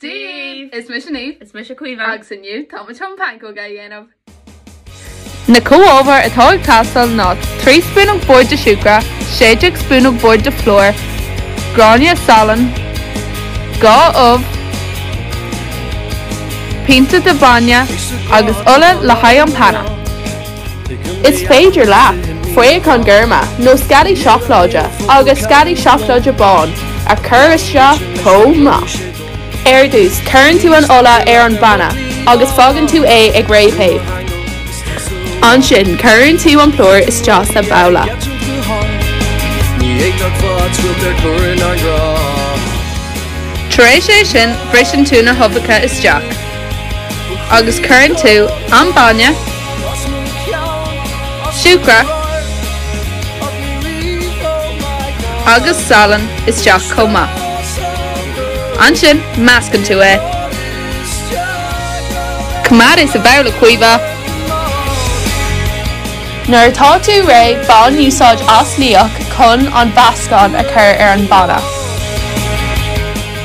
Dave! Is mise Niamh. Is mise Caoimhe. Agus inniu, tá muid chun pancóga a dhéanamh. Na comhábhair atá ag teastáil ná 3 spúnóg boird de siúcra, 16 spúnóg boird de phlúr, gráinne salainn, 2 ubh, pionta de bainne agus ola le haghaidh an phanna. Is féidir leat fraocháin ghorma nó sceallaí seacláide agus sceallaí seacláide bán a chur isteach chomh maith. Ar dtús, cuireann tú an ola ar an bpanna agus fágann tú é ag réamhthéamh. Ansin, cuireann tú an plúr isteach sa bhabhla. Tar éis é sin, briseann tú na huibheacha isteach. agus cuireann tú an bainne, siúcra agus salann isteach chomh maith. Ansin meascann tú é. Coimeád é sa bhabhla Caoimhe. Nuair atá tú réidh bain úsáid as liach chun an mheascán a chur ar an bpanna.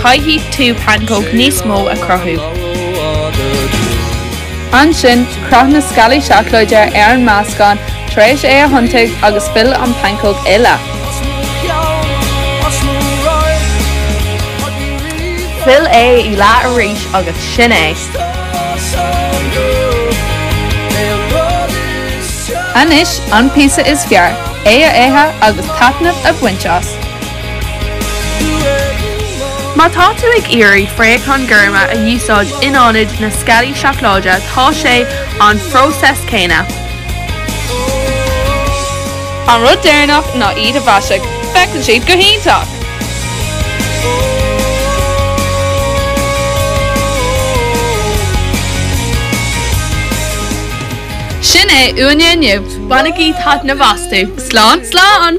Caithfidh tú pancóg níos mó a chruthú. Ansin, croith na sceallaí seacláide ar an meascán tar éis é a thiontaigh agus fill an pancóg i leath. Fill é i leath arís agus sin é! Anois an píosa is fearr, é a ithe agus taitneamh a bhaint as! Má tá tú ag iarraidh fraocháin ghorma a úsáid in ionad na sceallaí seacláide, tá sé an phróiseas céanna. An rud deireanach ná iad a mhaisiú, féachann siad go hiontach! Sin é uainn inniu, bainigí taitneamh astu! Slán, slán!